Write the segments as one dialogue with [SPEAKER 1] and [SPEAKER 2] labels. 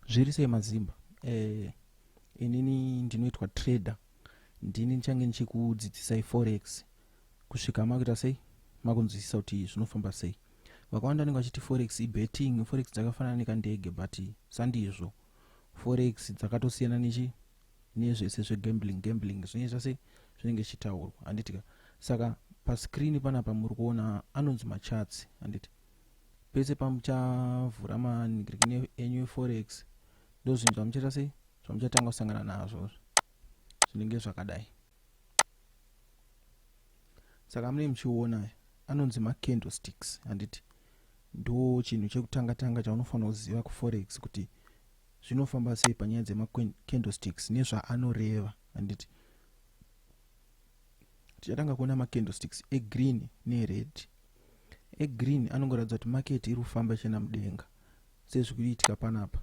[SPEAKER 1] zviri sei mazimba eh, inini ndinoitwa trader ndini ndichange ndichikudzidzisai forex kusvika makuita sei makunzwisisa kuti zvinofamba sei vakawanda vanenge vachiti forex ibetting forex dzakafanana nekandege but sandizvo forex dzakatosiyana nechi nezvese zvegambling gambling zvinenge zvase zvinenge zvichitaurwa handitika saka pascreen panapa muri kuona anonzi macharts handiti pese pamuchavhura manigirikini enyu eforex ndozvinhu zvamuchaita sei zvamuchatanga kusangana nazvo zvinenge zvakadai saka mune muchiona anonzi macandlesticks handiti ndo chinhu chekutanga tanga chaunofanira kuziva kuforex kuti zvinofamba sei panyaya dzemacandlesticks nezvaanoreva handiti tichatanga kuona macandlesticks egreen nered egreen anongoratidza kuti market iri kufamba ichienda mudenga sezviri kuitika panapa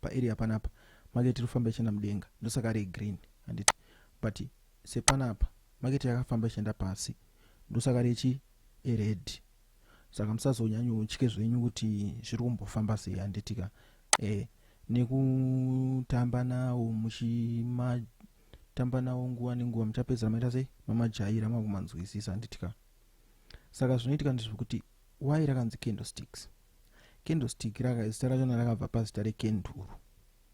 [SPEAKER 1] paarea panapa market iri kufamba ichienda mudenga ndosaka regreen handiti but sepanapa market yakafamba ichienda pasi ndosaka rechi ered saka musazonyanyotye zvenyu kuti zviri kumbofamba sei handitika e eh, nekutamba nawo muchimatamba nawo nguva nenguva muchapedzera maita sei mamajaira makumanzwisisa handitika saka zvinoitika ndezvekuti why rakanzi candlesticks candlestick rakazita rachona rakabva pazita rekenduru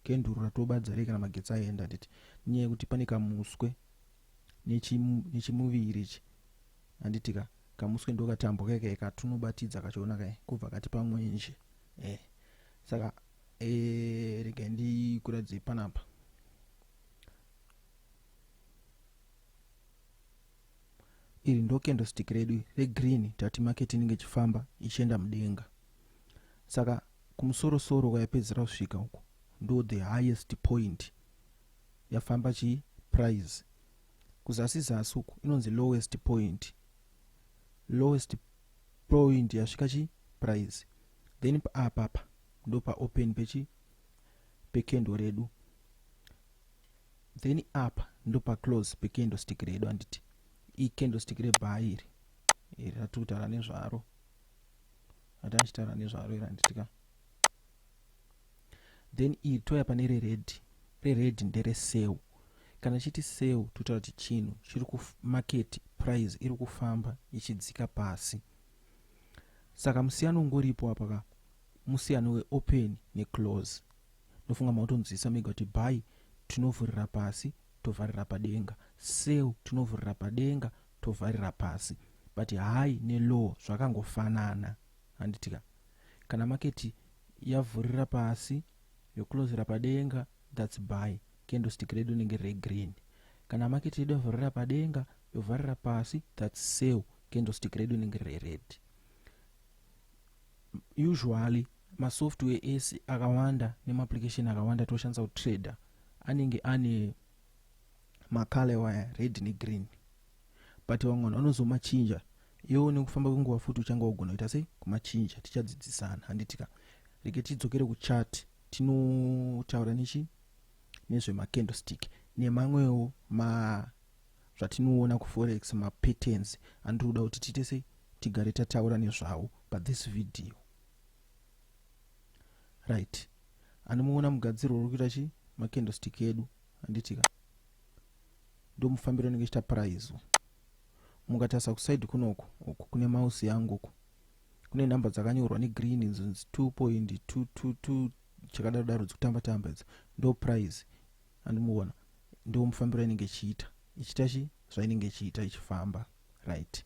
[SPEAKER 1] kenduru ratobadza rei kana magetsi aenda handiti nyaya yekuti pane kamuswe nechimuviri ichi handiti ka kamuswe ndokatambwa keke katunobatidza kachiona kae kubva kati pamwenje e eh, saka e eh, rega ndikuratidze panapa iri ndokendostik redu regreen tati maketi inenge ichifamba ichienda mudenga saka kumusorosoro kwayapedzera kusvika uku ndo the highest point yafamba chii price kuzasi zasi uku inonzi lowest point lowest point yasvika chi price then paapapa ah, ndopa open pechi pekendo redu then apa ndopa close pekendo stick redu anditi ikendo stick rebaa iri iri rati kutaura nezvaro rati achitaura nezvaro iri anditika Then iri touya pane reredhi. Reredhi ndere seu. Kana tichiti seu totaura kuti chinhu chiri kumaketi price iri kufamba ichidzika pasi. Saka musiyano ungoripo apa ka musiyano weopen neclose. Ndofunga makutonzwisisa mega kuti buy tinovhurira pasi tovharira padenga, seu tinovhurira padenga tovharira pasi but high nelow zvakangofanana handitika. kana market yavhurira pasi yocloser padenga that's buy candlestick redu rinenge riri regreen kana market yedu yavhurira padenga yovharira pasi that's sell candlestick redu rinenge riri rered usually masoftware ese akawanda nemaapplication akawanda toshandisa kutrader anenge ane macale waya red negreen but vamwe vanhu vanozomachinja iwo nekufamba kwenguva futi uchange wagona kuita sei kumachinja tichadzidzisana handiti ka rege tidzokere kuchat tinotaura nechi nezvemacandlestick nemamwewo ma zvatinoona kuforex mapatterns andiri kuda kuti tiite sei tigare tataura nezvawo pathis video right anomuona mugadzirwo uri kuita chii macandlestick edu handitika ndomufambiro ndenge chita prize mukatarisa kuside kunoku uku kune mouse yangu uku kune number dzakanyorwa negreen idzo 2.222 chakadaro daro dzikutamba tamba idzo ndo prize and muona ndo mufambiro inenge ichiita ichiita chi zvainenge ichiita ichifamba right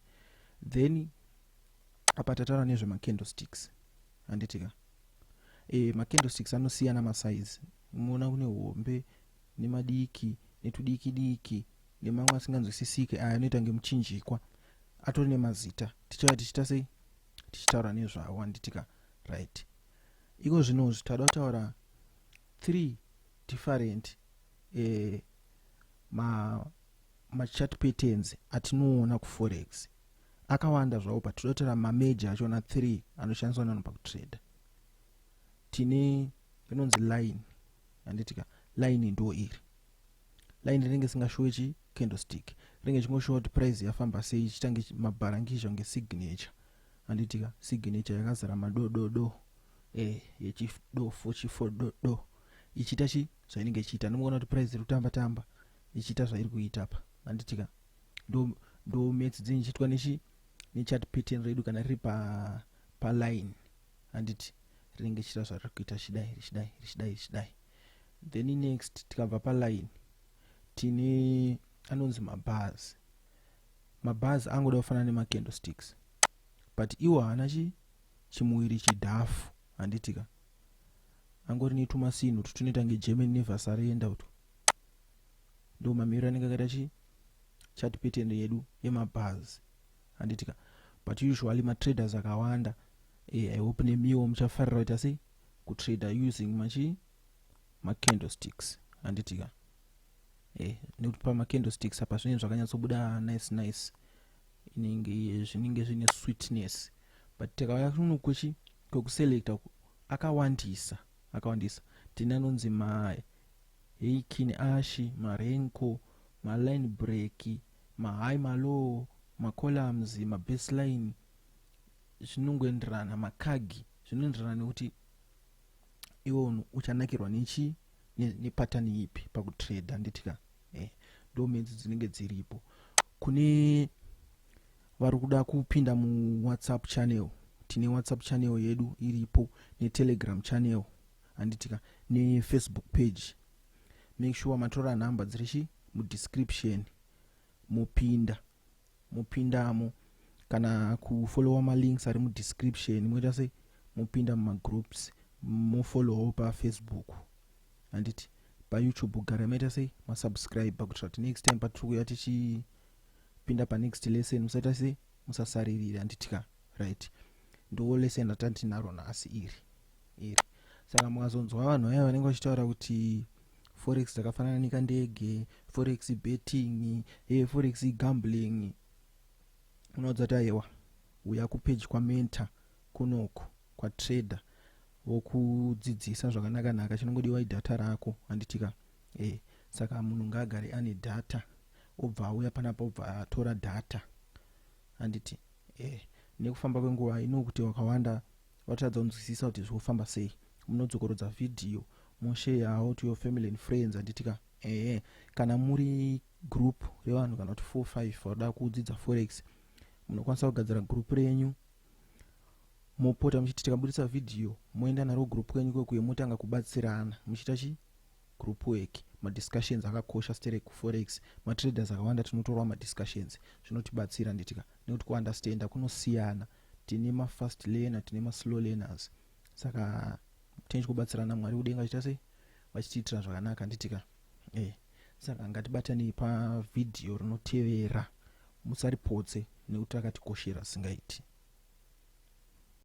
[SPEAKER 1] then apa tataura nezve macandlesticks handitika e eh, macandlesticks anosiyana masize muona kune hombe nemadiki netudiki diki nemamwe asinganzwisisike aya anoita ngemuchinjikwa atori nemazita tichava tichiita sei tichitaura nezvawo anditika right iko zvinozvi tada kutaura three different eh, ma machat patterns atinoona kuforex akawanda zvawo but todakutora mameja achona three anoshandiswa nanhu pakutrader tine rinonzi line handitika line ndo iri line rinenge singashowe chi candlestick rinenge chingoshowa kuti price yafamba sei chitange mabharangizha kunge signature handitika signature yakazara madododo eh, yechidofo chifododo ichiita chi zvainenge ichiita ndimoona kuti price iri kutamba tamba ichiita zvairi kuita pa handitika ndo ndo maths dzinyichitwa nechi nechat pattern redu kana riri pa paline handiti rinenge chita zvariri kuita chidai richidai richidai richidai then next tikabva paline tine anonzi mabhazi mabhazi angoda kufanana nemacandle sticks but iwo haana chi chimuviri chidhafu handitika angori netumasinhu tutunoita nge german nevasarenda uto ndo mamiriro anenge akaita chi chat pattern yedu yemabhazi handiti ka but usually matraders akawanda eh, i hope nemiwo muchafarira kuita sei kutrader using machii macandlesticks handiti ka eh, nekuti pamacandlesticks apa zvinenge zvakanyatsobuda nice nice inenge zvinenge zvine sweetness but tikauya kuno kwechi kwekuselecta akawandisa akawandisa tine anonzi ma heikin ashi marenko maline break ma high ma low ma columns ma baseline zvinongoenderana ma cag zvinoenderana nekuti iwe unhu uchanakirwa nechi nepattern ne ipi pakutrader nditika eh, ndo menzi dzinenge dziripo kune vari kuda kupinda muwhatsapp channel tine whatsapp channel yedu iripo netelegram channel handitika nefacebook page make sure matora nhamba dzirichi mudescription mopinda mopindamo kana kufollowa malinks ari mudescription moita sei mopinda mumagroups mofollowawo pafacebook handiti payoutube gara maita sei masubscribe kuitira kuti next time patiri kuya tichipinda panext lesson musaita sei musasaririra handiti ka right ndo lesson ratantinaro nhasi iri iri saka mukazonzwa vanhu vaya vanenge vachitaura kuti forex dzakafanana nekandege forex betting e forex gambling unoudza kuti aiwa uya kupeji kwamenta kunoko kwatrader vokudzidzisa zvakanaka naka chinongodiwa idata rako handitika e eh, saka munhu ngaagare ane data obva auya panapa obva atora data handiti e eh, nekufamba kwenguva inokuti wakawanda Vatadza kunzwisisa kuti zvofamba sei. Munodzokorodza video mosheyawo to your family and friends handiti ka? Ehe. Kana muri group revanhu kana kuti 4 5 vanoda kudzidza forex munokwanisa kugadzira group renyu mopota muchiti tikabudisa video moenda naro group kwenyu kwekuye motanga kubatsirana muchiita chi group work madiscussions akakosha stere kuforex matraders akawanda tinotorwa madiscussions zvinotibatsira nditika nekuti kuunderstanda kunosiyana tine ma fast learner tine ma slow learners saka tine chikubatsirana mwari kudenga chita sei vachitiitira zvakanaka nditika e eh, saka ngatibatanei pavhidhiyo rinotevera musaripotse nekuti rakatikoshera singaiti